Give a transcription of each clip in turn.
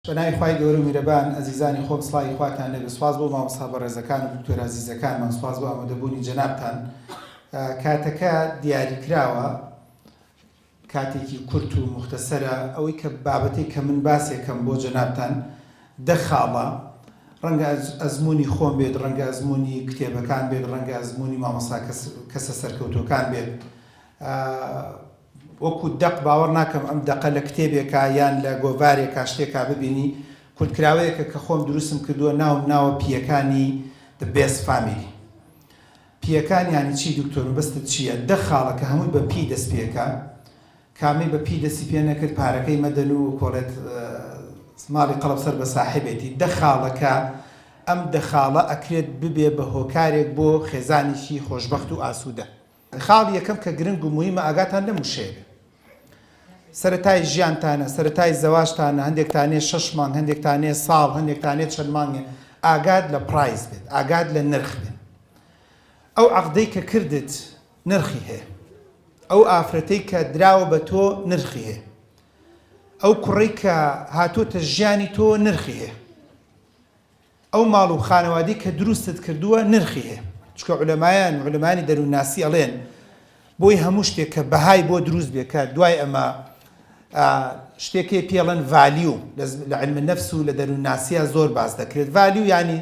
بە ناوی خوای گەورە و میرەبان ئەزیزانی خۆم سڵاوی خواتان لێبێت سوپاس بۆ مامۆستا بەڕێزەکان و دکتۆر ئازیزەکانمان سوپاس بۆ ئامادەبوونی جەنابتان کاتەکە دیاری کراوە کاتێکی کورت و مختەسەرە ئەوەی کە بابەتێک کە من باسێکەم بۆ جەنابتان دە خاڵە ڕەنگە ئەزمموی خۆم بێت ڕەنگە ئەزمموی کتێبەکان بێت ڕەنگە ئەزمموی مامۆستا کەسە سەرکەوتوەکان بێت وەکو دەق باوەڕ ناکەم ئەم دەقە لە کتێبێکا یان لە گۆڤارێکا شتێکا ببینی کورتکراوەیەکە کە خۆم دروستم کردووە ناوم ناوە پییەکانی The Best Family پییەکان یانی چی دکتۆر مەبەستت چییە دە خاڵە کە هەمووی بە پی دەست پێکا کامەی بە پی دەستی پێ نەکرد پارەکەی مەدەن و کۆڵێت ماڵی قەڵەب سەر بە ساحبێتی دە خاڵەکە ئەم دە خاڵە ئەکرێت ببێ بە هۆکارێک بۆ خێزانێکی خۆشبەخت و ئاسوودە. خاڵی یەکەم کە گرنگ و موهیمە ئاگاتان لەم وشەیە بێ سەرەتای ژیانتانە سەرەتای زەواجتانە هەندێکتانێ شەش مانگ هەندێکتانێ ساڵ هەندێکتانێ چەند مانگێ ئاگات لە پرایز بێت ئاگات لە نرخ بێت ئەو عەقدەی کە کردت نرخی هەیە ئەو ئافرەتەی کە دراوە بە تۆ نرخی هەیە ئەو کوڕی کە هاتووتە ژیانی تۆ نرخی هەیە ئەو ماڵ و خانەوادەی کە دروستت کردووە نرخی هەیە چونکە عولەمایان و عولەمایانی دەروونناسی ئەڵێن بۆی هەموو شتێک کە بەهای بۆ دروست بێ کە دوای ئەمە شتێکی پێڵەن ڤالیو لە علم النفس و لە دەروونناسیە زۆر باس دەکرێت ڤالیو ینی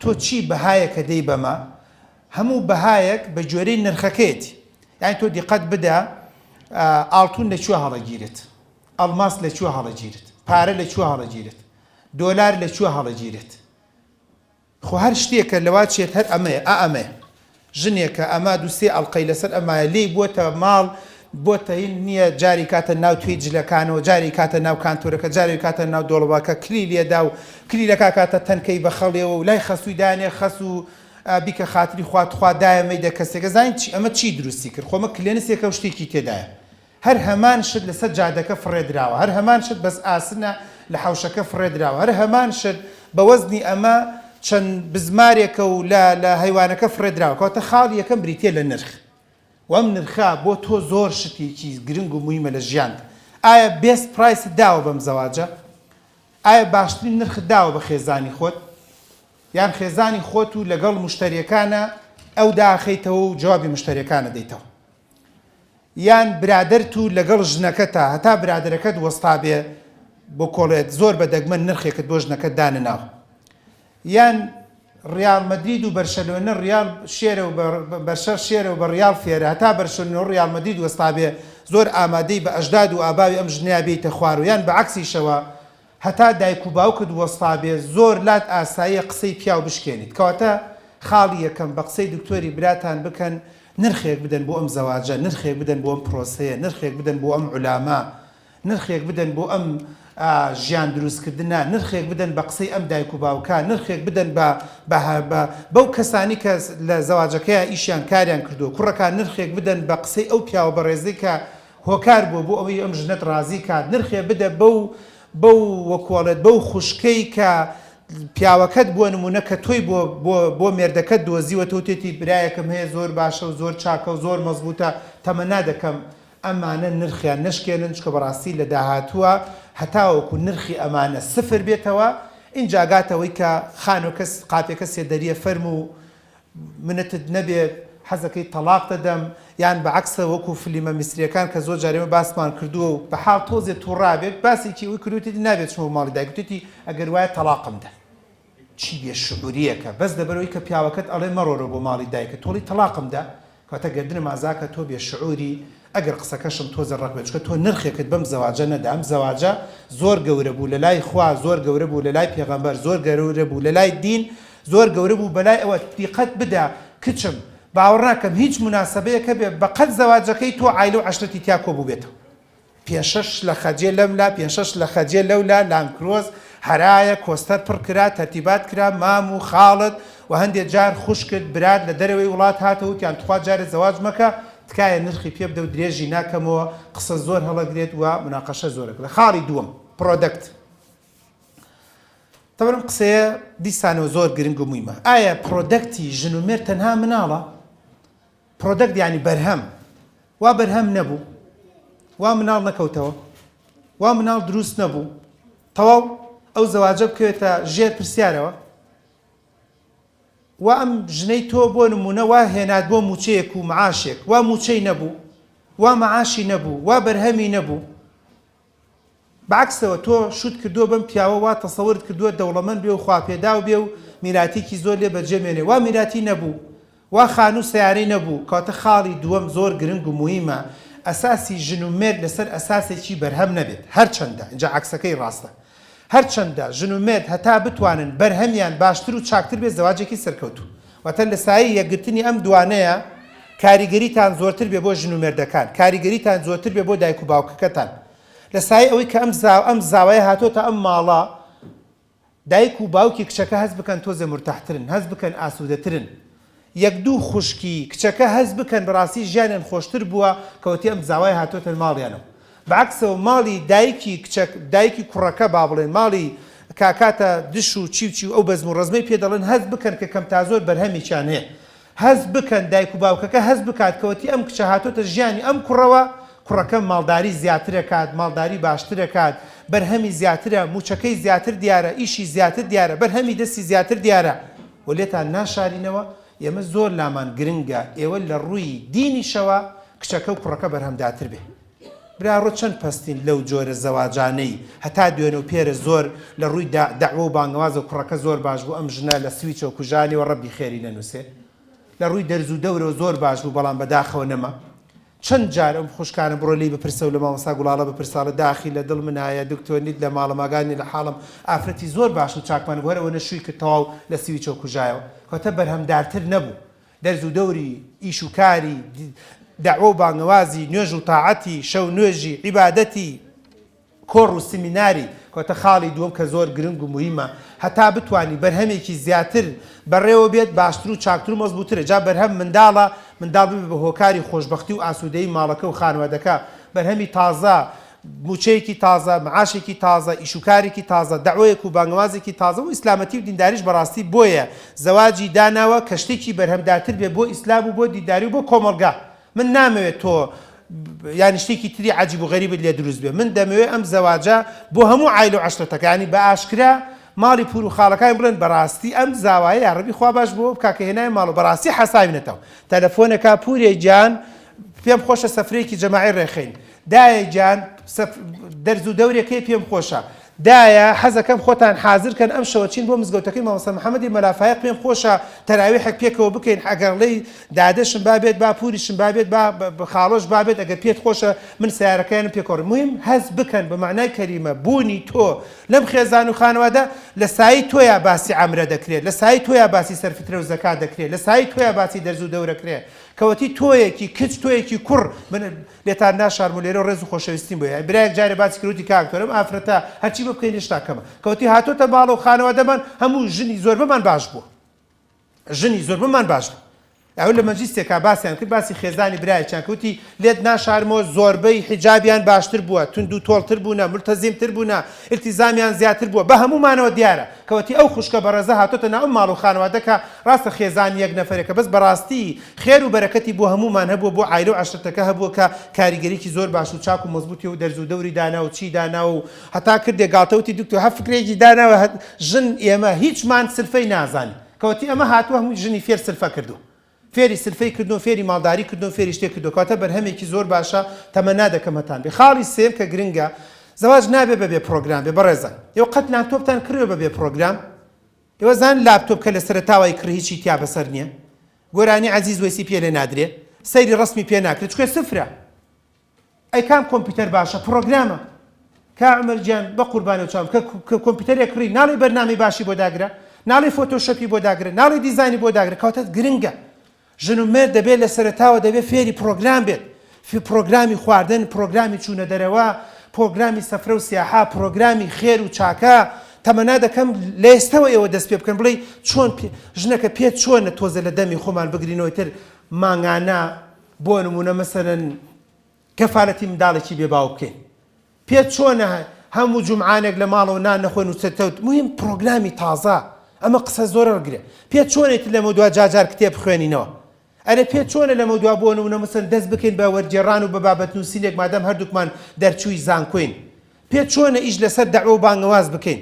تۆ چی بەهایەکە دەی بەمە هەموو بەهایەک بە جۆرەی نرخەکەیەتی یانی تۆ دیقەت بدە ئاڵتون لە کوێ هەڵەگیرێت ئەڵماس لە کوێ هەڵەگیرێت پارە لە کوێ هەڵەگیرێت دۆلار لە کوێ هەڵەگیرێت؟ خۆ هەر شتێکە لەوا چێت هەر ئەمەیە ئا ئەمەیە. ژنێکە ئەمە دوو سێ ئەڵقەی لەسەر ئەمایە لێی بۆتە ماڵ بۆتە هین نییە جارێ کاتە ناو توێی جلەکانەوە جارێ کاتە ناو کانتۆرەکە جارێ کاتە ناو دۆڵەباکە کلی لێدا و کلیلەکە کاتە تەنکەی بە خەڵێەوە و لای خەسووی دانێ خەس و بیکە خاتری خوا تخوا دایە مەیدە کەسێکە زانین چی ئەمە چی دروستی کرد خۆمە کلێنسێکە و شتێکی تێدایە هەر هەمان شت لەسەر جادەکە فڕێدراوە، هەر هەمان شت بەس ئاسنە لە حەوشەکە فڕێدراوە، هەر هەمان شت بە وەزنی ئەمە چەند بزمارێکە و لە لە هەیوانەکە فڕێدراوە. کەواتە خاڵی یەکەم بریتییە لە نرخ و ئەم نرخە بۆ تۆ زۆر شتێکی گرنگ و موهیمە لە ژیانت. ئایا بێست پرایست داوە بەم زەواجە؟ ئایا باشترین نرخت داوە بە خێزانی خۆت؟ یان خێزانی خۆت و لەگەڵ مشتەریەکانە ئەو داخەیتەوە و جوابی مشتەریەکان ئەدەیتەوە؟ یان برادەرت و لەگەڵ ژنەکەتە هەتا برادەرەکەت وەستابێ بۆ کۆڵێت زۆر بە دەگمەن نرخێکت بۆ ژنەکەت دانەناو یان ڕیاڵ مەدرید و بەرشەلۆنە ڕیاڵ شێرە و بەرشەر شێرە و بە ڕیاڵ فێرە هەتا بەرشەلۆنە و ڕیاڵ مەدرید وەستابێ زۆر ئامادەی بە ئەژداد و ئاباوی ئەم ژنەیە بێیتە خوار و یان بە عەکسیشەوە هەتا دایک و باوکت وەستابێ زۆر لات ئاساییە قسەی پیاو بشکێنیت کەواتە خاڵی یەکەم بە قسەی دکتۆری براتان بکەن نرخێک بدەن بۆ ئەم زەواجە نرخێک بدەن بۆ ئەم پرۆسەیە نرخێک بدەن بۆ ئەم عولامە نرخێک بدەن بۆ ئەم ژیان دروست کردنە نرخێک بدەن بە قسەی ئەم دایک و باوکە نرخێک بدەن بە بە بە بەو کەسانی کە لە زەواجەکەیان ئیشیان کاریان کردووە کوڕەکان نرخێک بدەن بە قسەی ئەو پیاوە بەڕێزەی کە هۆکار بووە بۆ ئەوەی ئەم ژنەت ڕازی کات نرخێ بدە بەو بەو وەکوەڵێت بەو خوشکەی کە پیاوەکەت بووە نمونە کە تۆی بۆ بۆ بۆ مێردەکەت دۆزیوە تۆ تێتی برایەکم هەیە زۆر باشە و زۆر چاکە و زۆر مەزبوتە تەمەنا دەکەم ئەمانە نرخیان نەشکێنن چکە بەڕاستی لە داهاتووە هەتاوەکو نرخی ئەمانە سفر بێتەوە ئینجا گاتەوەی کە خانۆ کەس قاپێکە سێدەریە فەرموو منتت نەبێت حەزەکەی تەڵاق دەدەم یان بە عەکسە وەکو فلیمە میسریەکان کە زۆر جار ئێمە باسمان کردووە و بە حاڵ تۆزێ توڕابێت باسێکی ئەوەی کردووە وتیت نابێت چمە ماڵی دایک وتیتی ئەگەر وایە تەڵاقم دە چی بێ شعوریەکە بەس لەبەرئەوەی کە پیاوەکەت ئەڵێ مەڕۆرە بۆ ماڵی دایکت تۆڵی تەڵاقم دە کەوتە گەردنم ئازاکە تۆ بێ شعوری ئەگەر قسەکەشم تۆزێ ڕەق بێ چونکە تۆ نرخێکت بەم زەواجە نەدا ئەم زەواجە زۆر گەورە بوو لەلای خوا زۆر گەورە بوو لەلای پێغەمبەر زۆر گەورە بوو لەلای دین زۆر گەورە بوو بەلای ئەوە دیقەت بدە کچم باوەڕناکەم هیچ موناسەبەیەک هەبێ بەقەد زەواجەکەی تۆ عایلە و عەشرەتی تیا کۆبووبێتەوە پێشەش لە خەجێ لەم لا، پێشەش لە خەجێ لەو لا، لانکرۆز، هەرایە، کۆستەر پڕ کرا، تەرتیبات کرا، مام و خاڵت و هەندێ جار خوشکت، برات لە دەرەوەی وڵات هاتەوە وتیان تخوا جارێ زەواج مەکە، تکایە نرخی پێ بدە و درێژی ناکەمەوە، قسە زۆر هەڵەگرێت و مناقەشە زۆر ئەکرێت. خاڵی دووەم، پرۆدەکت. تەبەن ئەم قسەیە دیسانەوە زۆر گرنگ و مویمە. ئایا پرۆدەکتی ژن و مێرد تەنها مناڵە؟ Product یانی بەرهەم وا بەرهەم نەبوو وا مناڵ نەکەوتەوە وا مناڵ دروست نەبوو تەواو ئەو زەواجە بکەوێتە ژێر پرسیارەوە وا ئەم ژنەی تۆ بۆ نمونە وا هێنات بۆ موچەیەک و معاشێک وا موچەی نەبوو وا معاشی نەبوو وا بەرهەمی نەبوو بەعەکسەوە تۆ شوت کردووە بەم پیاوە وا تەسەورت کردووە دەوڵەمەند بێ و خواپێداو بێ و میراتیکی زۆر لێ بەرجێ مێنێ وا میراتی نەبوو وا خانوو سەیارەی نەبوو کەواتە خاڵی دووەم زۆر گرنگ و مویمە ئەساسی ژن و مێرد لەسەر ئەساسێکی بەرهەم نەبێت هەرچەندە ئینجا عەکسەکەی ڕاستە هەرچەندە ژن و مێرد هەتا بتوانن بەرهەمیان باشتر و چاکتر بێت زەواجێکی سەرکەوتوو واتە لە سایەی یەکگرتنی ئەم دوانەیە کاریگەریتان زۆرتر بێ بۆ ژن و مێردەکان کاریگەریتان زۆرتر بێ بۆ دایک و باوکەکەتان لە سایەی ئەوەی کە ئەم زا ئەم زاوایە هاتۆتە ئەم ماڵە دایک و باوکی کچەکە هەست بکەن تۆزێ مورتاحترن هەست بکەن ئاسوودەترن یەک دوو خوشکی کچەکە هەست بکەن بەڕاستی ژیانیان خۆشتر بووە کەوتی ئەم زاوای هاتۆتە ماڵیانەوە بەعەکسەوە ماڵی دایکی کچە دایکی کوڕەکە بابڵێن ماڵی کاکاتە دش و چی و چی و ئەو بەزم و ڕەزمەی پێ دەڵێن هەست بکەن کە کەم تازۆر بەرهەمێکیان هەیە هەست بکەن دایک و باوکەکە هەست بکات کەوتی ئەم کچە هاتۆتە ژیانی ئەم کوڕەوە کوڕەکەم ماڵداری زیاترەکات ماڵداری باشترەکات بەرهەمی زیاترە موچەکەی زیاتر دیارە ئیشی زیاتر دیارە بەرهەمی دەستی زیاتر دیارە. و لێتان ناشارینەوە، ئێمە زۆر لامان گرنگە ئێوە لە ڕووی دینیشەوە کچەکە و کوڕەکە بەرهەمداتر بێ. برا ڕۆ چەند پەستین لەو جۆرە زەواجانەی هەتا دوێنە و پێرە زۆر لە ڕووی دا دەعوە و بانگەوازەوە کوڕەکە زۆر باش بوو ئەم ژنە لە سویچەوە کوژانیەوە ڕەبی خێری نەنووسێ لە ڕووی دەرزو دەورەوە زۆر باش بوو بەڵام بەداخەوە نەما چەند جار ئەم خوشکانە بڕۆ لێی بپرسە و لە مامۆستا گوڵاڵە بپرسە ئەڵێ داخی لە دڵ منایە دکتۆر نیت لە ماڵە ماگان نیە لە حاڵم ئافرەتی زۆر باش و چاکمان بوو هەر ئەوەنە شووی کرد تەواو لە سویچەوە کوژایەوە کەوتە بەرهەمدارتر نەبوو دەرز و دەوری ئیش و کاری دەعوە و بانگەوازی نوێژ و تاعەتی شەو نوێژی عیبادەتی کۆڕ و سیمیناری کۆتە خاڵی دووەم کە زۆر گرنگ و موهیمە هەتا بتوانی بەرهەمێکی زیاتر بەڕێوە بێت باشتر و چاکتر و مەزبووترە جا بەرهەم منداڵە منداڵ ببێت بە هۆکاری خۆشبەختی و ئاسوودەیی ماڵەکە و خانوادەکە بەرهەمی تازە مووچەیەکی تازە معاشێکی تازە ئیش و کارێکی تازە دەعوەیەک و بانگەوازێکی تازە و ئیسلامەتی و دینداریش بەڕاستی بۆیە زەواجی داناوە کە شتێکی بەرهەمداتر بێت بۆ ئیسلام و بۆ دینداری و بۆ کۆمەڵگا من نامەوێ تۆ یانی شتێکی تری عجیب و غەریبت لێ دروست بێ من دەمەوێ ئەم زەواجە بۆ هەموو عایلە و عەشرەتەکانی بە ئاشکرا ماڵی پور و خاڵەکانی بڵێن بەڕاستی ئەم زاوایە یاڕەبی خوا باش بۆ بکا کە هێنای ماڵ و بەڕاستی حەساوینەتەوە تەلەفۆنەکا پورێ گیان پێم خۆشە سەفرەیەکی جەماعی ڕێخەین دایە گیان دەرز و دەورێکەی پێم خۆشە دایە حەزەکەم خۆتان حازر کەن ئەم شەوە چین بۆ مزگەوتەکەی مامۆستا محمدی مەلا فایەق پێم خۆشە تەراویحەک پێکەوە بکەین ئەگەڕ لەی دادەشم با بێت با پوریشم با بێت با خاڵۆش با بێت ئەگەر پێت خۆشە من سەیارەکەیانم پێکەوە مویم هەست بکەن بە مەعنای کەلیمە بوونی تۆ لەم خێزان و خانەوادە لە سایەی تۆیا باسی عەمرە دەکرێت لە سایەی تۆیا باسی سەرفترە و زەکات دەکرێت لە سایەی تۆیا باسی دەرز و دەورەکرێ کەوەتی تۆیەکی کچ تۆیەکی کوڕ لێتان ناشارم و لێرەو ڕێز و خۆشەویستیم بۆ یای برایەک جارێ باسی کرد وتی کاک تۆر ئەم ئافرەتە هەرچی بۆ بکەین هێشتا کەمە کەوتی هاتۆتە ماڵە و خانەوادەمان هەموو ژنی زۆربەمان باش بووە ژنی زۆربەمان باش بوو ئەو لە مەجلیسێکا باسیان کرد باسی خێزانی برایەکیان کە وتی لێت ناشارمەوە زۆربەی حیجابیان باشتر بووە توند و تۆڵتر بوونە مولتەزیم تر بوونە ئیلتیزامیان زیاتر بووە بە هەموومانەوە دیارە کەوتی ئەو خوشکە بەڕێزە هاتۆتە ناو ئەم ماڵ و خانەوادەکە ڕاستە خێزان یەک نەفەرێکە بەس بەڕاستی خێر و بەرەکەتی بۆ هەموومان هەبووە بۆ عایلە و عەشرەتەکە هەبووە کە کاریگەریی زۆر باش و چاک و مەزبووتی و دەرز و دەوری دانا و چی داناوە و هەتا کردێ گاڵتە وتی دکتۆ هە فکرێکی داناوە هە ژن ئێمە هیچمان سرفەی نازانی کەوتی ئەمە هاتووە هەمووی ژنی فێر سرفە کردووە فێری سرفەی کردووە فێری ماڵداری کردووە فێری شتێ کردووە کەواتە بەرهەمێکی زۆر باشە تەمەنا دەکەم هەتان بێ خاڵی سێم کە گرنگە زەواج نابێ بەبێ پڕۆگرام بێ بەڕێزان ئێوە قەت لانتۆپتان کڕیوە بەبێ پڕۆگرام؟ ئێوە زان لاپتۆپ کە لە سەرەتاوە ئەیکڕی هیچی تیا بەسەر نیە گۆرانی عەزیز وەیسی پێ لێ نادرێ سەیری ڕەسمی پێ ناکرێ چونکە سفرە ئەی کام کۆمپیوتەر باشە پڕۆگرامە کا عمر گیان بەقوربانە چاوم کە کۆمپیوتەرێک کڕی ناڵی بەرنامەی باشی بۆ داگرە ناڵی فۆتۆشەپی بۆ داگرە ناڵی دیزانی بۆ داگرە کەواتە گرنگە ژن و مێرد دەبێت لە سەرەتاوە دەبێت فێری پرۆگرام بێت، پرۆگرامی خواردن، پرۆگرامی چوونە دەرەوە، پرۆگرامی سەفرە و سیاحە، پرۆگرامی خێر و چاکە، تەمەنا دەکەم لە ئێستەوە ئێوە دەست پێ بکەن بڵێی چۆن ژنەکە پێت چۆنە تۆزێ لە دەمی خۆمان بگرینەوە ئیتر مانگانە بۆ نموونە مەسەلەن کەفالەتی منداڵێکی بێ باوک بکەین. پێت چۆنە هه موو جومعانێک لە ماڵەوە نان نەخۆین و چە تەوت مهیم پڕۆگرامی تازە ئەمە قسە زۆرە ڕگرێ پێت چۆنێ تر لەمە دوا جار جار کتێب بخوێنینەوە ئەرێ پێت چۆنە لەمە دوا بۆ نمونە مەسەن دەست بکەین بە وەرگێڕان و بە بابەت نووسینێک مادام هەردووکمان دەرچووی زانکۆین پێت چۆنە ئیش لەسەر دەعوە و بانگەواز بکەین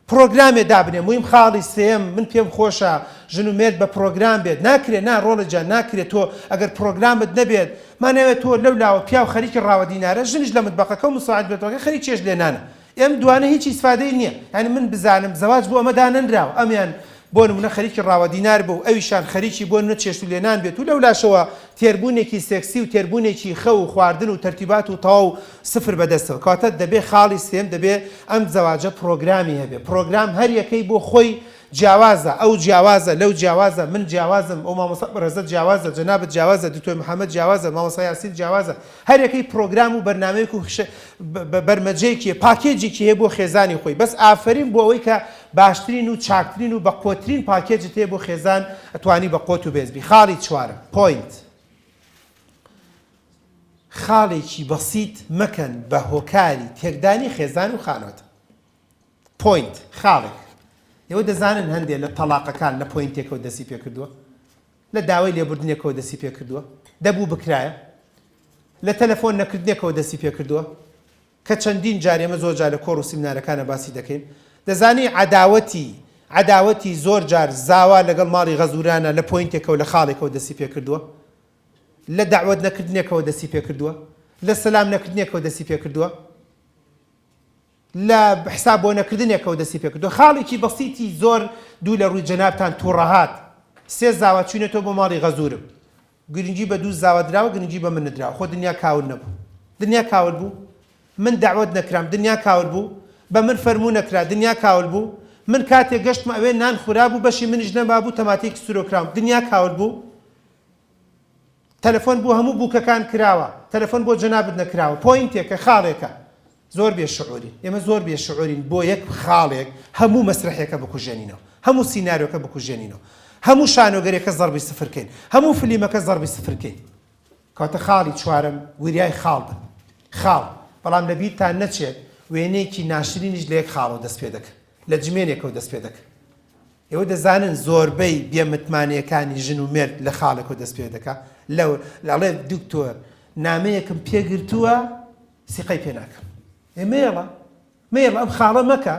پڕۆگرامێ دابنێ مویم خاڵی سێیەم من پێم خۆشە ژن و مێرد بە پڕۆگرام بێت ناکرێ نا ڕۆڵە جان ناکرێ تۆ ئەگەر پڕۆگرامت نەبێت ماناێ تۆ لەو لاوە پیاو خەریکی ڕاوە دینارە ژنیش لە متبەقەکە و مساعد بێتۆکە خەریک چێشت لێنانە ئێم دوانە هیچ ئیسفادەی نیە یانی من بزانم زەواج بۆ ئەمە دانەنراوە ئەمیان بۆ نموونە خەریکی ڕاوە دینار بوو، ئەویشان خەریکی بۆ نموونە چێشت و لێنان بێت و لەولاشەوە تێربوونێکی سێکسی و تێربوونێکی خەو و خواردن و تەرتیبات و تەواو سفر بەدەستەوە کەواتە دەبێ خاڵی سێیەم دەبێ ئەم زەواجە پڕۆگرامی هەبێ پڕۆگرام هەر یەکەی بۆ خۆی جیاوازە ئەو جیاوازە لەو جیاوازە من جیاوازم ئەو مامۆستا بەڕێزە جیاوازە جەنابت جیاوازە دکتۆر محمد جیاوازە مامۆستا یاسین جیاوازە هەریەکەی پرۆگرام و بەرنامەیەک و بەرمەجەیەکی هەیە، پاکێجێکی هەیە بۆ خێزانی خۆی، بەس ئافەرین بۆ ئەوەی کە باشترین و چاکترین و بەقوەترین پاکێجت هەیە بۆ خێزان ئەتوانی بە قوەت و بێز بی. خاڵی چوارەم، Point، خاڵێکی بەسیت مەکەن بە هۆکاری تێکدانی خێزان و خانوەت. Point، خاڵێک. ئێوە دەزانن هەندێ لە تەڵاقەکان لە پۆینتێکەوە دەستی پێکردووە؟ لە داوای لێبوردنێکەوە دەستی پێکردووە، دەبوو بکرایە، لە تەلەفۆن نەکردنێکەوە دەستی پێکردووە، کە چەندین جار ئێمە زۆر جار لە کۆڕ و سیمنارەکانا باسی دەکەین، دەزانی عەداوەتی عەداوەتی زۆر جار زاوا لەگەڵ ماڵی غەزورانا لە پۆینتێکەوە لە خاڵێکەوە دەستی پێکردووە، لە دەعوەت نەکردنێکەوە دەستی پێکردووە، لە سەلام نەکردنێکەوە دەستی پێکردووە. لە حساب بۆ نەکردنێکەوە دەستی پێکردووە. خاڵێکی بەسیتی زۆر دوو لە ڕووی جەنابتان توڕەهات. سێ زاوا چووینەتەوە بۆ ماڵی غەزورم. گرنگی بە دوو زاوا دراوە گرنگی بە من ندراوە. خۆ دنیا کاول نەبوو؟ دنیا کاول بوو؟ من دەعوەت نەکرام دنیا کاول بوو؟ بە من فەرموو نەکرا دنیا کاول بوو؟ من کاتێ گەشتمە ئەوێ نان خورابوو بەشی منیش نەمابوو تەماتەیەکی سورۆ کراوم دنیا کاول بوو؟ تەلەفۆن بۆ هەموو بووکەکان کراوە تەلەفۆن بۆ جەنابت نەکراوە پۆینتێکە خاڵێکە. زۆر بێ شعورین ئێمە زۆر بێ شعورین بۆ یەک خاڵێک هەموو مەسرەحێکە بکوژێنینەوە هەموو سینارۆکە بکوژێنینەوە هەموو شانۆگەرێکە زەڕبی سفر کەین هەموو فلیمەکە زەڕبی سفر کەین کەواتە خاڵی چوارەم وریای خاڵ بن خاڵ بەڵام لە بیرتان نەچێت وێنەیەکی ناشرینیش لە یەک خاڵەوە دەست پێ دەکە لە جمێنێکەوە دەست پێ دەکە ئێوە دەزانن زۆربەی بێمتمانەکانی ژن و مرد لە خاڵێکەوە دەست پێ دەکە لەو لاڵێ دکتۆر نامەیەکم پێگرتووە سیقەی پێ ناکەم ئێ مەیەڵە مەیەڵە ئەم خاڵە مەکە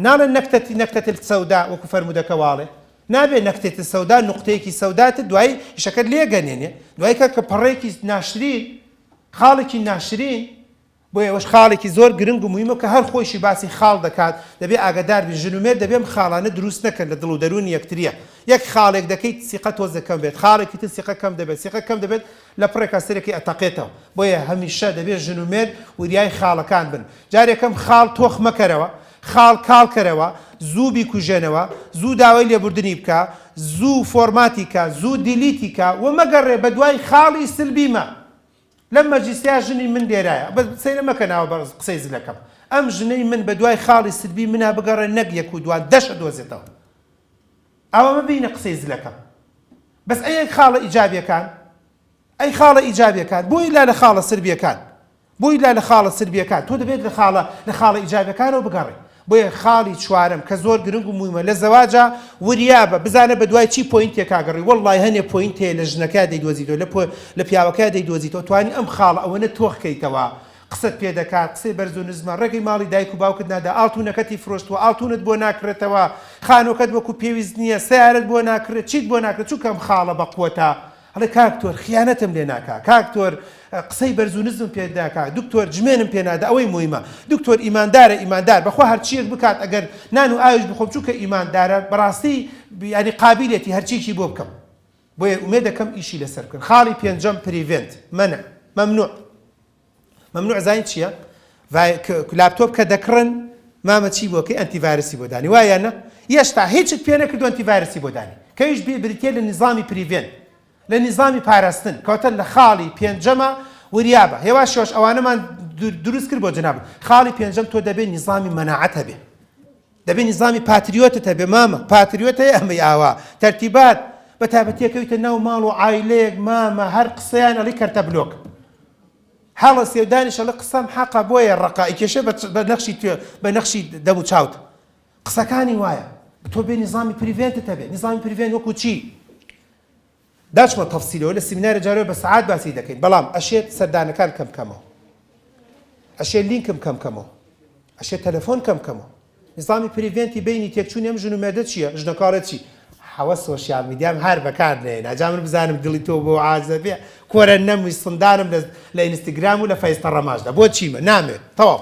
ناڵێن نەکتەتی نەکتەت السەودا وەکو فەرموودەکە واڵێ نابێ نەکتێت سەودا نقطەیەکی سەودات دوای شەکەت لێگەنێنێ دوای کە کە پەڕێکی ناشرین خاڵێکی ناشرین بۆ ئێوەش خاڵێکی زۆر گرنگ و مهمە کە هەر خۆشی باسی خاڵ دەکات دەبێ ئاگدار بی ژنومێر دەبێم خاڵانە دروست نەکەن لە دڵ و دەرون یەکتریە یەک خاڵێک دەکەیت سیقە تۆزەکەم بێت خاڵێکی تر سیقەکەم دەبێت سیقەکەم دەبێت لە پڕێکا سەرێکی ئەتەقێتەوە بۆیە هەمیشە دەبێ ژن و مێرد وریای خاڵەکان بن جارێکم خاڵ تۆخ مەکەرەوە خاڵ کاڵ کەرەوە زوو بیکوژێنەوە زوو داوای لێبوردنی بکە زوو فۆرماتی کە زوو دیلیتی کە وە مەگەڕێ بەدوای خاڵی سلبی مە لەم مەجلیسیا ژنی من لێرایە بەس سەیرە مەکە ناوە بە قسەی زلەکەم ئەم ژنەی من بەدوای خاڵی سلبی منا بگەڕێ نەک یەک و دوان دەشە دۆزێتەوە. ئاوا مەبینە قسەی زلەکە. بەس ئەی خاڵە ئیجابیەکان؟ ئەی خاڵە ئیجابیەکان؟ بۆ ئیلا لە خاڵە سربیەکان؟ بۆ ئیلا لە خاڵە سربیەکان؟ تۆ دەبێت لە خاڵە لە خاڵە ئیجابیەکانەوە بگەڕێ. بۆیە خاڵی چوارەم کە زۆر گرنگ و مویمە لە زەواجا وریابە بزانە بە دوای چی پۆینتێکا گەڕی وەڵلای هەنێ پۆینت هەیە لە ژنەکەیا دەیدۆزیتەوە لە لە پیاوەکەیا دەیدۆزیتەوە توانی ئەم خاڵە ئەوەنە تۆخ کەیتەوە قسەت پێ دەکات قسەی بەرز و نزمە، ڕێگەی ماڵی دایک و باوکت نادا، ئاڵتونەکەتی فرۆشتووە، ئاڵتونت بۆ ناکڕێتەوە، خانووەکەت وەکو پێویست نییە، سەیارەت بۆ ناکڕێت، چیت بۆ ناکرێت، چونکە ئەم خاڵە بەقوەتە. ئەڵێ کاک تۆر خیانەتم لێ ناکا، کاک تۆر قسەی بەرز و نزمم پێ ناکا، دکتۆر جمێنم پێ نادا، ئەوەی مویمە دکتۆر ئیماندارە، ئیماندار بەخوا هەرچییەک بکات ئەگەر نان و ئاویش بخۆم چونکە ئیماندارە، بەڕاستی یانی قابیلێتی هەرچییەکی بۆ بکەم. بۆیە ئومێدەکەم ئیشی لەسەر بکەن. خاڵی پێنجەم، Prevent، مەنع، مەمنوع. مەمنوع زانیت چییە؟ ڤای ک لاپتۆپ کە دەکڕن مامە چی بۆ کەی ئەنتی ڤایرسی بۆ دانی وایە نە یێشتا هیچت پێ نەکردوە ئەنتی ڤایرسی بۆ دانی کەیش بی بریتیە لە نیزامی پریڤێن لە نیزامی پاراستن کەوتە لە خاڵی پێنجەمە وریابە هێوا شۆش ئەوانەمان دروست کرد بۆ جەنابت خاڵی پێنجەم تۆ دەبێ نیزامی مەناعەت هەبێ دەبێ نیزامی پاتریۆتت هەبێ مامە، پاتریۆت هەیە ئەمەی ئاوا، تەرتیبات، بەتایبەتی ئەکەویتە ناو ماڵ و عایلەیەک مامە هەر قسەیان ئەڵی کەرتە بلۆک هەڵە سێودانیش ئەڵی قسەم حەقە بۆیە ڕەقە ئەیکێشێ بە نەخشی توێ بە نەخشی دەم و چاوت قسەکانی وایە تۆ بێ نیزامی پریڤێنتت هەبێ نیزامی پریڤێن وەکو چی؟ داچمە تەفسیلەوە لە سیمینارە جارەوە بە سەعات باسی دەکەین بەڵام ئەشێت سەردانەکان کەم کەمەوە ئەشێ لینکم کەم کەمەوە ئەشێ تەلەفۆن کەم کەمەوە نیزامی پریڤێنتی بینی تێکچوونی ئەم ژن و مێردە چییە ژنەکە ئەڵێت چی حەوە سۆشیال میدیام هەر بەکار نەهێنا جا من بزانم دڵی تۆ بۆ عازە بێ کۆرە نەموی سندانم لە لە ئینستاگرام و لە فەیستە ڕەماشدا بۆ چیمە نامێ تەواو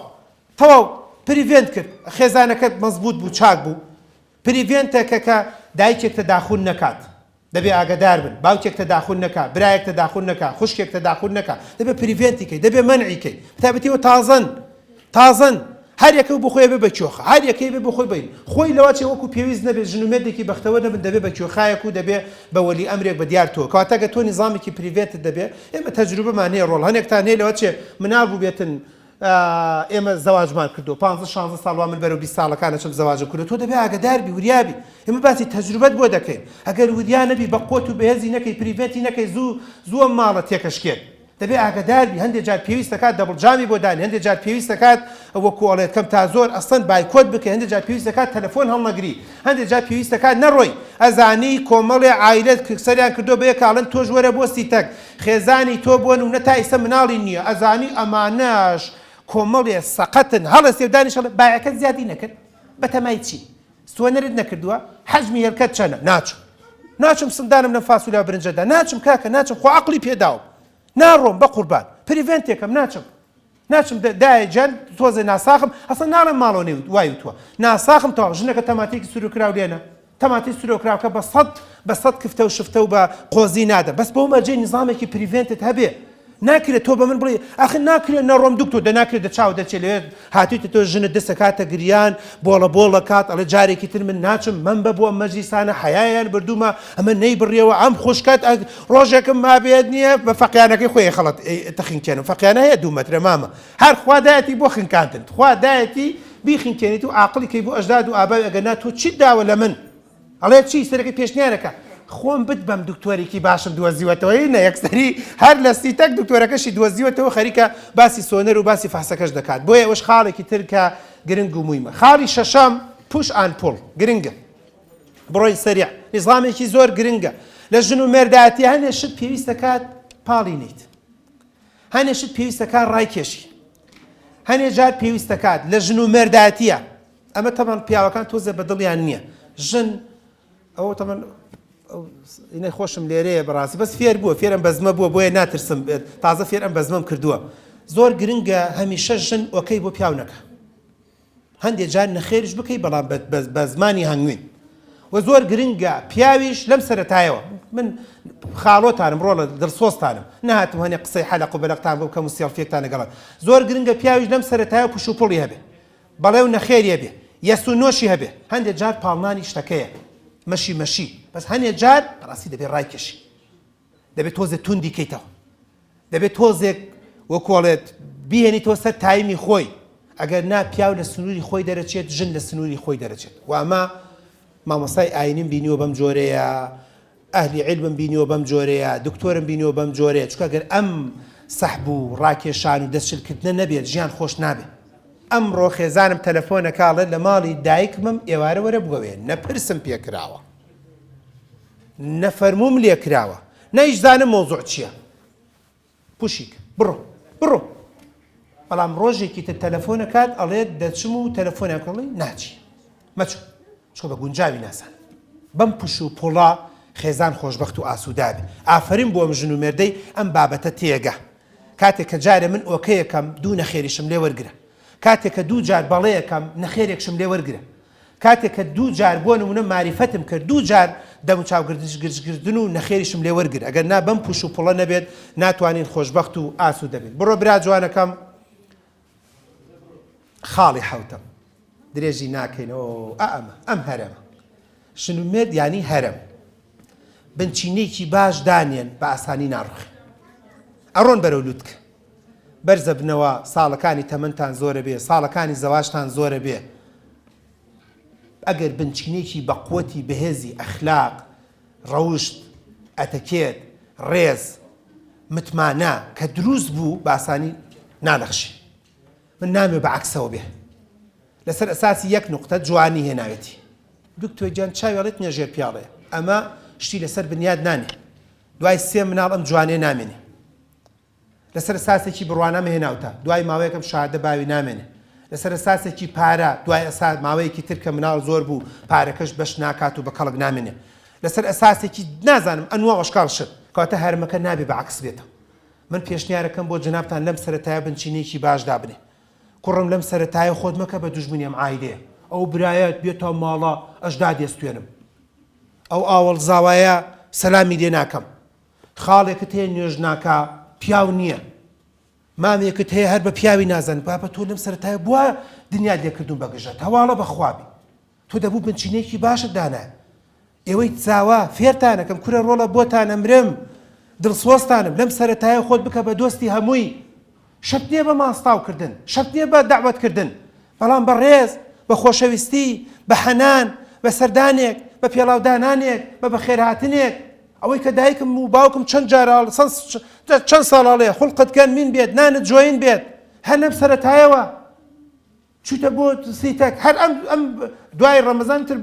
تەواو پریڤێنت کرد خێزانەکەت مەزبووت بوو چاک بوو پریڤێنتەکە کە دایکێک تەداخول نەکات دەبێ ئاگەدار بن، باوکێک تەداخول نەکا، برایەک تەداخول نەکا، خوشکێک تەداخول نەکا، دەبێ پریڤێنتی کەی، دەبێ مەنعی کەی، بەتایبەتی ئەوە تازەن، تازەن، هەر یەکە بۆ خۆی ئەبێ بە کێۆخا، هەر یەکەی ئەبێ بۆ خۆی بە، خۆی لەوە چێ وەکوو پێویست نەبێ ژن و مێردێکی بەختەوەر نەبن دەبێ بە کێۆخایەک و دەبێ بە وەلی ئەمرێک بە دیار تۆ، کەواتە گەر تۆ نیزامێکی پریڤێنتت دەبێ، ئێمە تەجروبەمان هەیە ڕۆڵ هەنێکتان هەیە لەوە چێ مناڵ بووبێتن، ئێمە زەواجمان کردووە پانزە شانزە ساڵ وا من بەرەو بیست ساڵەکان ئەچم زەواجم کردووە تۆ دەبێ ئاگەدار بی وریا بی ئێمە باسی تەجروبەت بۆ دەکەین ئەگەر وریا نەبی بە قوت و بەهێزی نەکەی پریڤێنتی نەکەی زوو زوو ئەم ماڵە تێکەشکێت دەبێ ئاگەدار بی هەندێ جار پێویست دەکات دەبڵ جامی بۆ دانی هەندێ جار پێویست دەکات وەکو ئەڵێت کەم تا زۆر ئەسڵەن بایکۆت بکەی هەندێ جار پێویست دەکات تەلەفۆن هەڵنەگری هەندێ جار پێویست دەکات نەڕۆی ئەزانی کۆمەڵێ عایلەت سەریان کردووە بە یەکا ئەڵێن تۆش وەرە بۆ سیتەک خێزانی تۆ بۆ نونە تا ئیسە مناڵی نیە ئەزانی ئەمانەش کۆمەڵێ سەقەتن هەڵە سێودانی شەڵێ بایەکەت زیادی نەکرد بەتەمای چی سوەنەرت نەکردووە حەجمی هێلکەت چەنە ناچم ناچم سندانم لەم فاسولیا برنجەدا ناچم کاکە ناچم خۆ عقلی پێداوم ناڕۆم بە قوربان پریڤێنتێکم ناچم ناچم دایە جان تۆزێ ناساخم ئەسە ناڵێ ماڵۆ نێ وای وتوە ناساخم تەواو ژنەکە تەماتێکی سروکرااو لێنە تەماتی سرۆکراوکە بە سەد بە سەد کفتە و شفتە و بە قۆزی نادە بەس بۆ مەرجەی نظامێکی پریڤێنتت هەبێ ناکرێت تۆ بە من بڵێ ئەخ ناکرێت نەڕۆم دکتۆ دە ناکرێت دە چاو دەچێت لێت هاتویتە تۆ ژنە دەسە کاتە گریان بۆڵە بۆڵە کات ئەڵێ جارێکی تر من ناچم من بە بۆ ئەم مەجلیسانە حیایان بردوومە ئەمە نەی بڕیەوە ئەم خوشکات ڕۆژێکم مابێت نیە بە فەقیانەکەی خۆی خەڵەت تەخینکێنم فەقیانە هەیە دوو مەترە مامە هەر خوا دایەتی بۆ خنکاندنت خوا دایەتی بیخنکێنیت و عاقڵی کەی بۆ ئەژداد و ئاباوی ئەگەر نا تۆ چیت داوە لە من ئەڵێ چی سەرەکەی پێشنیارەکە خۆم بت بەم دکتۆرێکی باشم دۆزیوەتەوەی نە یەکسەری هەر لە سیتەک دکتۆرەکەشی دۆزیوەتەوە خەریکە باسی سۆنەر و باسی فەحسەکەش دەکات بۆیە ئەوەش خاڵێکی تر کە گرنگ و مویمە خاڵی شەشەم پوش ئان پوڵ گرنگە بڕۆین سەریع ئیسلامێکی زۆر گرنگە لە ژن و مێردایەتی هەنێ شت پێویستە کات پاڵی نیت هەنێ شت پێویستە کار ڕای کێشی هەنێ جار پێویستە کات لە ژن و مێردایەتیە ئەمە تەمان پیاوەکان تۆزە بە دڵیان نییە ژن ئەوە تەمان ئینەی خۆشم لێرەیە بەڕاستی بەس فێر بووە فێرم بەزمە بووە بۆیە ناترسم بێت تازە فێر ئەم بەزمەم کردووە زۆر گرنگە هەمیشە ژن ئۆکەی بۆ پیاونەکە هەندێ جار نەخێریش بکەی بەڵام بە زمانی هەنگوین و زۆر گرنگە پیاویش لەم سەرەتایەوە من خاڵۆتانم ڕۆڵە دڵسۆستانم نهاتم هەنێ قسەی حەلق و بەلەقتان بۆ کەم و سێڵفێکتان لەگەڵت زۆر گرنگە پیاویش لەم سەرەتایە پش و پڵی هەبێ بەڵێ و نەخێریە بێ یەس و نۆشی هەبێ هەندێک جار پاڵنانی شتەکەیە مەشی مەشی بەس هەنێ جار ڕاستی دەبێ ڕایکێشی دەبێت تۆزێ توندی کەیتەوە دەبێت تۆزێک وەکۆڵێت بیهێنیتەوە سەر تایمی خۆی ئەگەر نا پیاو لە سنووری خۆی دەرەچێت ژن لە سنووری خۆی دەرەچێت وامە مامۆسای ئاینیم بینیوە بەم جۆرەیە ئەهلی علمم بینیوە بەم جۆرەیە دکتۆرم بینیوە بەم جۆرەیە چکە گەر ئەم سەحب و ڕاکێشان و دەستشلکردنە نەبێت ژیان خۆش نابێت ئەمڕۆ خێزانم تەلەفۆنە کاڵێت لە ماڵی دایکمم ئێوارە وەرە بگەوێ نەپرسم پێکراوە نەفەرمووم لێکراوە نایشزانم مەوزوع چیە پوشیک بڕۆ بڕۆ بەڵام ڕۆژێکی تر تەلەفۆنەکات ئەڵێت دەچم و تەلەفۆنیان کەڵی ناچی مەچوو چۆ بە گونجاوی ناسان بەم پوش و پۆڵا خێزان خۆشببخت و ئاسوودابێ ئافرین بۆم ژن و مێردەی ئەم بابەتە تێگە کاتێک کە جارێ من ئۆکەیەکەم دوو نەخێریشم لێ وەرگرە کاتێک کە دوو جار بەڵەیەکەم نەخێرێکشم لێ وەرگرە کاتێک کە دوو جار بۆ نموونە ماریفەتم کرد دوو جار دەموچاو گردش گرژ گردن و نەخێریشم لێ وەرگر ئەگەر نا بەم پوش و پڵە نەبێت ناتوانین خۆشبەخت و ئاسوودە بین بڕۆ برا جوانەکەم خاڵی حەوتەم درێژی ناکەینەوە ئە ئەمە ئەم هەرەمە شنومێت ینی هەرم بنچینێکی باش دانێن بە ئاسانی ناڕخ ئەڕۆن بەرەو لوتکە بەرزەبنەوە ساڵەکانی تەمەنتان زۆرەبێ ساڵەکانی زەواجتان زۆرەبێ ئەگەر بنچینەیەکی بەقوەتی بەهێزی ئەخلاق ڕەوشت ئەتەکێت ڕێز متمانە کە دروست بوو باسانی نانەخشی من نامێ بە عەکسەوە بێ لەسەر ئەساسی یەک نوقتە جوانی هێناوێتی دکتۆر گیان چاوی ڕێت نیە ژێر پیاڵێ ئەمە شتی لەسەر بنیاد نانێ دوای سێ مناڵ ئەم جوانێ نامێنێ. لەسەر ئساسێکی بڕوانامە هێناوتە دوای ماوەیەکم شادە باوی نامێنێ لەسەر ئساسێکی پارە دوای ئەسا ماوەیەکی تر کە مناڵ زۆر بوو پارەکەش بەش ناکات و بە کەڵک نامێنێ لەسەر ئساسێکی نازانم ئەنوە ئەشکال شت کەواتە هەرمەکە نابێ بە عکس بێتە من پێشنیارەکەم بۆ جنابتان لەم سەرەتایە بنچینەیەکی باش دابنێ کوڕم لەم سەرەتایە خۆت مەکە بە دوژمنی ئەم عایدەیە ئەو برایەت بێتە ماڵە ئەش دادێستێنم ئەو ئاوەڵ زاوایە سەلامی لێ ناکەم خاڵێکت هەیە نوێژ ناکا پیاو نیە. مامێکت هەیە هەر بە پیاوی نازانی بابە تۆ لەم سەرەتایە بوا دنیات لێ کردووم بە گژەت هەواڵە بە خوا بی تۆ دەبوو بنچینەیەکی باشت دانایە ئێوەی چاوا فێرتانەکەم کورە ڕۆڵە بۆتان ئەمرم دڵسۆزتانم لەم سەرەتایە خۆت بکە بە دۆستی هەمووی شەرت نیە بە ماستاو کردن، شەرت نیە بە دەعوەت کردن، بەڵام بە ڕێز، بە خۆشەویستی، بە حەنان، بە سەردانێک، بە پێڵاو دانانێک، بە بەخێرهاتنێک. ئەوەی کە دایکم و باوکم چەند جاراڵ سەند چەند ساڵاڵێ، خوڵقت گەن مین بێت، نانت جۆین بێت، هەر لەم سەرەتایەوە. چویتە بۆ سی تەک هەر ئەم ئەم دوای ڕەمەزان تر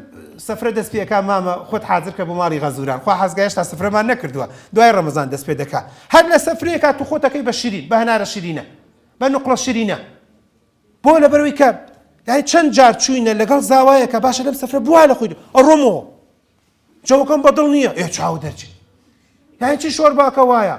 سفرە دەست پێ ئەکا مامە خۆت حازر کە بۆ ماڵی غەزوران خوا حەزگا هێشتا سفرەمان نەکردووە دوای ڕەمەزان دەست پێ دەکا هەر لە سفرەیەکا تو خۆت ئەکەی بە شیرین بە هەنارە شیرینە بە نوقڵە شیرینە بۆ لەبەرەوەی کە یعنی چەند جار چوینە لەگەڵ زاوایەکە باشە لەم سفرە بوا لە خۆی ئەڕۆمەوە جەوەکەم بەدڵ نییە ئێ چاو دەرچێت یعنی چی شۆرباکە وایە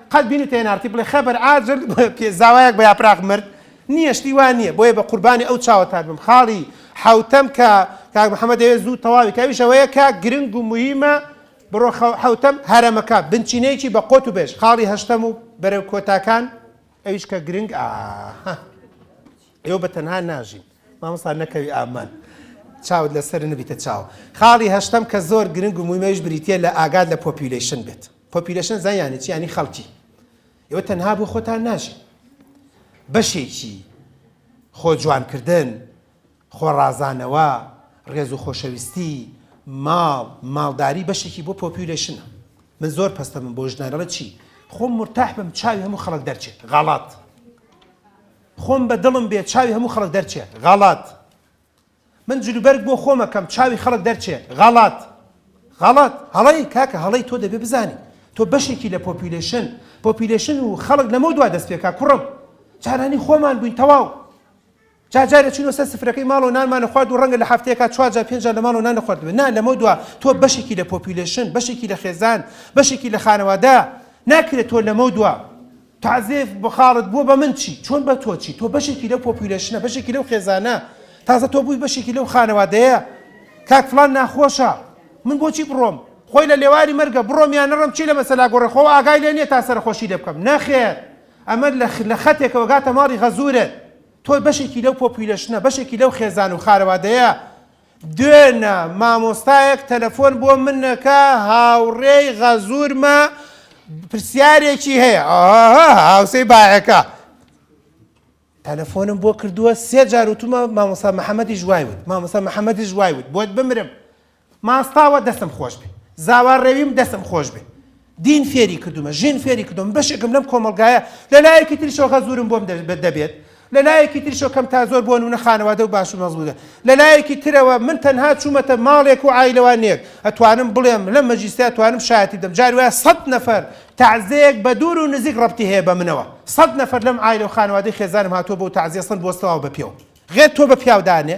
قەت بینی تێنارتی بڵێ خەبەر ئاجل پێ زاوایەک بە یاپراخ مرد نییە شتی وا نییە بۆیە بە قوربانی ئەو چاوەتان بم خاڵی حوتەم کە کاک محەممەد دەوێت زوو تەواوی کاویش ئەوەیە کە گرنگ و مهمە بڕۆ حوتەم هەرەمەکە بنچینەیەکی بە قۆت و بێژ خاڵی هەشتەم و بەرەو کۆتاکان ئەویش کە گرنگ ئا ئێوە بە تەنها ناژین مامۆستا نەکەوی ئامان چاوت لەسەر نبیتە چاو خاڵی هەشتم کە زۆر گرنگ و مویمەش بریتە لە ئاگاد لە پۆپیولەیشن بێت پۆپیلەشن زان یانی چی یانی خەڵکی ئێوە تەنها بۆ خۆتان ناژی بەشێکی خۆ جوانکردن خۆڕازانەوە ڕێز و خۆشەویستی ماڵ ماڵداری بەشێکی بۆ پۆپیولەشنە من زۆر پستە من بۆ ژنانەڵە چی خۆم مرتاح بم چاوی هەموو خەڵک دەرچێت غاڵات خۆم بە دڵم بێ چاوی هەموو خەڵک دەرچێت غاڵات من جلوبەرگ بۆ خۆم ئەکەم چاوی خەڵک دەرچێ. غەڵەت. غەڵەت. هەڵەی کاکە هەڵەی تۆ دەبێ بزانی تۆ بەشێکی لە پۆپیولەیشن پۆپیولەیشن و خەڵک لەمەو دوا دەست پێکا کوڕم. جارانی خۆمان بووین تەواو. جار جار ئەچووینەوە سەر سفرەکەی ماڵ و نانمان ئەخوارد و ڕەنگە لە هەفتەیەکا چوار جار پێنج جار لە ماڵەوە نان نەخواردبێ نا لەمەو دوا تۆ بەشێکی لە پۆپیولەیشن بەشێکی لە خێزان بەشێکی لە خانەوادە ناکرێ تۆ لەمەو دوا تازێ بە خاڵت بووە بە من چی؟ چۆن بە تۆ چی؟ تۆ بەشێکی لەو پۆپیولەیشنە، بەشێکی لەو خێزانە، تازە تۆ بووی بەشێکی لەو خانەوادەیە، کاک فڵان ناخۆشە، من بۆچی بڕۆم؟ خۆی لە لێواری مەرگە، بڕۆم یان نەڕۆم چی لە مەسەلا گۆڕێ، خۆ ئاگای لێ نییە تا سەرەخۆشی لێ بکەم، نەخێر ئەمە لە خەتێکەوە گاتە ماڵی غەزورت، تۆ بەشێکی لەو پۆپیولەشنە، بەشێکی لەو خێزان و خانەوادەیە، دوێنە مامۆستایەک تەلەفۆن بۆ من نەکا هاوڕێی غەزورمە پرسیارێکی هەیە ئاها هاوسەی باەکە تەلەفۆنم بۆ کردووە سێ جار وتومە مامۆسا محەممەدیش وای وت مامۆسا محەممەدیش وای وت بۆت بمرم ماستاوە دەسم خۆش بێ زاوا ڕێویم دەسم خۆش بێ دین فێری کردومە، ژن فێری کردومە، من بەشێکم لەم کۆمەڵگایە، لە لایەکی تریشەوە غەزورم بۆم دەبێت، لە لایەکی تریشەوە کەم تا زۆر بۆ نمونە خانەوادە و باش و مەزبووتە، لە لایەکی ترەوە من تەنها چوومەتە ماڵێک و عایلەوانێک، ئەتوانم بڵێم لەم مەجلیسەیا توانم شایەتی بدەم، جاری وایە سەد نەفەر تەعزێیەک بە دوور و نزیک ڕەبتی هەیە بە منەوە، سەد نەفەر لەم عایلە و خانەوادەی خێزانم هاتووە بۆ تەعزیە سەن بۆ سڵاو بە پێو، غێر تۆ بە پیاو دانێ،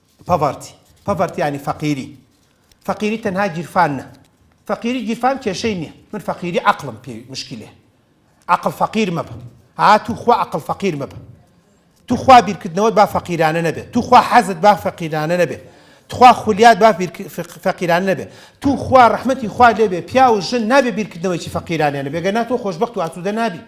پۆڤەرتی، Poverty، یانی فەقیری، فەقیری تەنها گیرفان نا، فەقیری گیرفان کێشەی نیە، من فەقیری عەقڵم پێ مشکیلەیە، عەقڵ فەقیر مەبە، ها توخوا عەقڵ فەقیر مەبە، توخوا بیرکردنەوەت با فەقیرانە نەبێت، توخوا حەزت با فەقیرانە نەبێت، تخوا خولیات با فەقیرانە نەبێت، توخوا ڕەحمەتی خوا لێبێت پیاو و ژن نابێت بیرکردنەوەیەکی فەقیرانیان هەبێت، گەرنا تۆ خۆشبەخت و ئاسوودە نابی.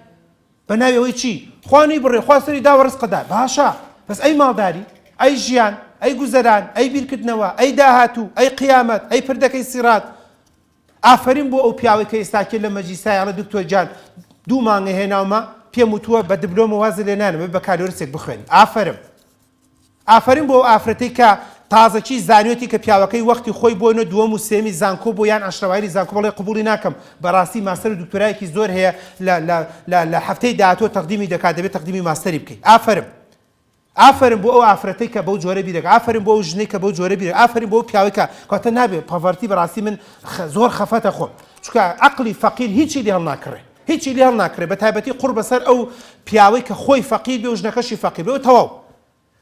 بە ناوی ئەوەی چی؟ خوا نەی بڕێ خوا سەری داوە ڕزقت دا باشە بەس ئەی ماڵداری؟ ئەی ژیان؟ ئەی گوزەران؟ ئەی بیرکردنەوە؟ ئەی داهاتوو؟ ئەی قیامەت؟ ئەی پردەکەی سیڕات؟ ئافەرین بۆ ئەو پیاوەی کە ئێستا کێ لە مەجلیسایە ئەڵێ دکتۆر گیان دوو مانگە هێناومە پێم وتووە بە دبلۆمە وازت لێ نانم بە بەکالۆرسێک بخوێنی ئافەرم ئافەرین بۆ ئەو ئافرەتەی کە تازەکی زانیۆتی کە پیاوەکەی وەختی خۆی بۆ نۆ دووەم و سێمی زانکۆ بۆ یان عەشرەوایری زانکۆ بڵێ قبوڵی ناکەم بەراستی ماستەر و دکتۆرایەکی زۆر هەیە لە لە لە لە هەفتەی داهاتوە تەقدیمی دەکات دەبێ تەقدیمی ماستەری بکەی ئافەرم ئافەرم بۆ ئەو ئافرەتەی کە بەو جۆرە بیرەکە ئافەرم بۆ ئەو ژنەی کە بەو جۆرە بیرە ئافەرم بۆ پیاوەی کە کەواتە نابێ پاڤەرتی بەراستی من زۆر خەفەتە خۆم چونکە عەقڵی فەقیر هیچی لێ هەڵناکڕێ هیچی لێ هەڵناکڕێ بەتایبەتی قوڕ بەسەر ئەو پیاوەی کە خۆی فەقیر بێ و ژنەکەشی فەقیر بێ و تەواو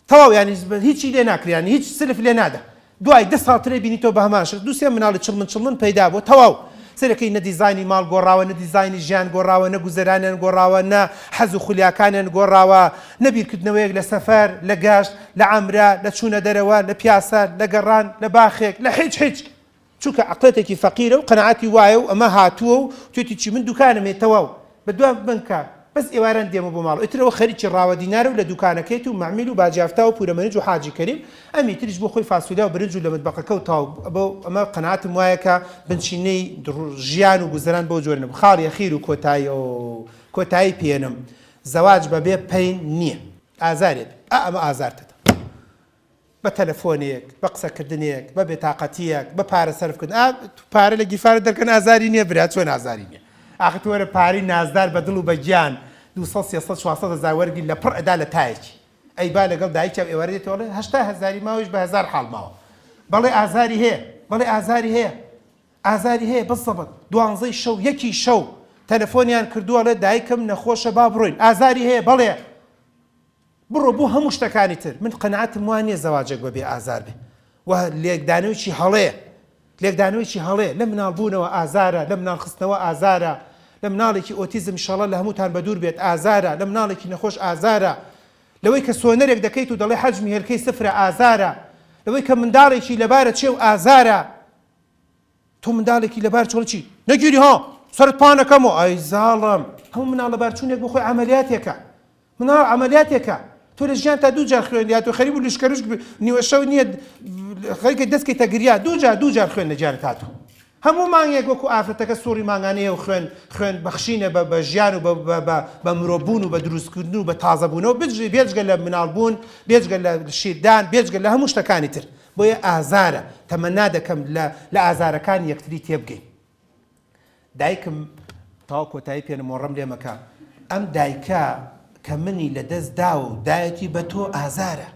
تەواو یانی هیچی لێ ناکرێ یانی هیچ سلف لێ نادا دوای دە ساڵ ترێ بینیتەوە بە هەمان شت دوو سێ مناڵی چڵمن چڵمن پەیدا بووە تەواو سەرەکەی نە دیزاینی ماڵ گۆڕاوە نە دیزاینی ژیان گۆڕاوە نە گوزەرانیان گۆڕاوە نە حەز و خولیاکانیان گۆڕاوە نە بیرکردنەوەیەک لە سەفەر لە گەشت لە عەمرە لە چوونە دەرەوە لە پیاسە لە گەڕان لە باخێک لە هیچ هیچ چونکە عەقڵێتێکی فەقیرە و قەناعەتی وایە و ئەمە هاتووە و توێتی چی من دوکانم هەیە تەواو بەدوام بن کە بەس ئێواران دێمە بۆ ماڵ ئیتر ئەوە خەریکی ڕاوە دینارە و لە دوکانەکەیەتی و مەعمیل و باجیافتا و پورە مەنج و حاجی کەریم ئەمی تریش بۆ خۆی فاسۆلیا و برنج و لە مەتبەقەکە و تەواو بۆ ئەمە قەناعەتم وایە کە بنچینەی ژیان و گوزەران بەو جۆرە نەبوو خاڵیە خیر و کۆتایی ئۆ کۆتایی پێنم زەواج بەبێ پەین نیە ئازارێ بێ ئا ئەمە ئازارتە. بە تەلەفۆنێک، بە قسەکردنێک، بە بێتاقەتییەک، بە پارە سەرفکردن، ئا پارە لە گیرفانت دەرکەن ئازاری نییە برا، چۆن ئازاری نییە؟ ئاخر تۆ وەرە پارەی نازدار بە دڵ و بە گیان دوو سەد، سێ سەد، چوار سەد هەزار وەرگری لە پڕ ئەدا لە تایەکی. ئەی با لەگەڵ دایکیان ئێوارە دێتەوە ئەڵێ هەشتا هەزاری ماوە ئیش بە هەزار حاڵ ماوە. بەڵێ ئازاری هەیە، بەڵێ ئازاری هەیە، ئازاری هەیە بە زەبت. دوانزەی شەو، یەکی شەو تەلەفۆنیان کردووە ئەڵێ دایکم نەخۆشە با بڕۆین. ئازاری هەیە، بەڵێ. بڕۆ بۆ هەموو شتەکانی تر من قەناعەتم وا نیە زەواجێک بەبێ ئازار بێ و لێکدانەوێکی هەڵەیە لێکدانەوێکی هەڵەیە لە مناڵ بوونەوە ئازارە لە مناڵ خستنەوە ئازارە لە مناڵێکی ئۆتیزم شەڵە لە هەمووتان بەدوور بێت ئازارە لە مناڵێکی نەخۆش ئازارە لەوەی کە سۆنەرێک دەکەیت و دەڵێ حەجمی هێلکەی سفرە ئازارە لەوەی کە منداڵێکی لەبارە چێ و ئازارە تۆ مندالێکی لەبار چۆڵی چی نەگیری ها سەرت پان ئەکەمەوە ئای زاڵم هەموو مناڵ لەبار چوونێک بۆ خۆی عەمەلیاتێکە مناڵ عەمەلیاتێکە تۆ لە ژیان تا دوو جار خوێندیات و خەریب و لشکەرشک نیوە شەو نییە خەریکە دەستکەی تەگریا دوو جار دوو جار خوێن لە جارت هاتوو هەموو مانگێک وەکو ئافرەتەکە سوڕی مانگانەیە و خوێن خوێن بەخشینە بە بە ژیان و بە مرۆبوون و بە دروستکردن و بە تازەبوونەوە بێجگە لە مناڵبوون بێجگە لە شیردان بێجگە لە هەموو شتەکانی تر بۆیە ئازارە، تەمەنا دەکەم لە لە ئازارەکانی یەکتری تێبگەین. دایکم تەواو کۆتایی پێ نمۆڕم لێ مەکە ئەم دایکە کە منی لە دەست داوە و دایەتی بە تۆ ئازارە.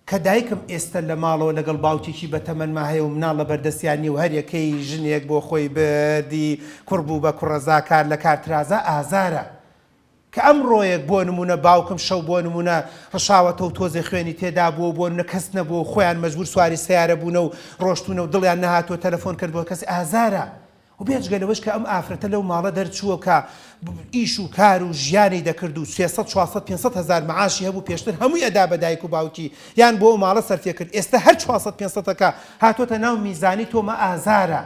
کە دایکم ئێستە لە ماڵەوە لەگەڵ باوکێکی بە تەمەنما هەیە و مناڵ لە بەردەستیان نیە و هەر یەکەی ژنێک بۆ خۆی بردی، کوڕ بوو بە کوڕەزا، کار لە کار ترازا ئازارە. کە ئەمڕۆیەک بۆ نموونە باوکم شەو بۆ نموونە ڕشاوەتەوە و تۆزێ خوێنی تێدابووە و بۆ نموونە کەس نەبووە و خۆیان مەجبوور سواری سەیارە بوونە و ڕۆشتوونە و دڵیان نەهاتووە تەلەفۆن کردبووە کەس ئازارە و بێجگە لەوەش کە ئەم ئافرەتە لەو ماڵە دەرچووە کە ئیش و کار و ژیانی دەکرد و سێ سەد چوار سەد پێنج سەد هەزار مەعاشی هەبوو پێشتر هەمووی ئەدا بە دایک و باوکی یان بۆ ئەو ماڵە سەرفێکرد ئێستە هەر چوار سەد پێنج سەدەکە هاتۆتە ناو میزانی تۆمە ئازارە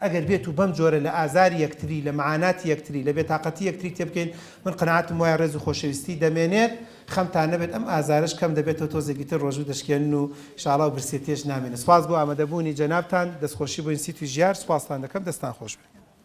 ئەگەر بێت و بەم جۆرە لە ئازاری یەکتری، لە مەعاناتی یەکتری، لە بێتاقەتی یەکتری تێبگەین، من قەناعەتم وایە ڕێز و خۆشەویستی دەمێنێت، خەمتان نەبێت ئەم ئازارەش کەم دەبێتەوە تۆزێکی تر ڕۆژوو دەشکێنن و شاڵا و برسێتیش نامێنێت. سوپاس بۆ ئامەدەبوونی جەنابتان، دەستخۆشی بۆ ئینسیتوی ژیار، سوپاستان دەکەم، دەستان خۆش بێت.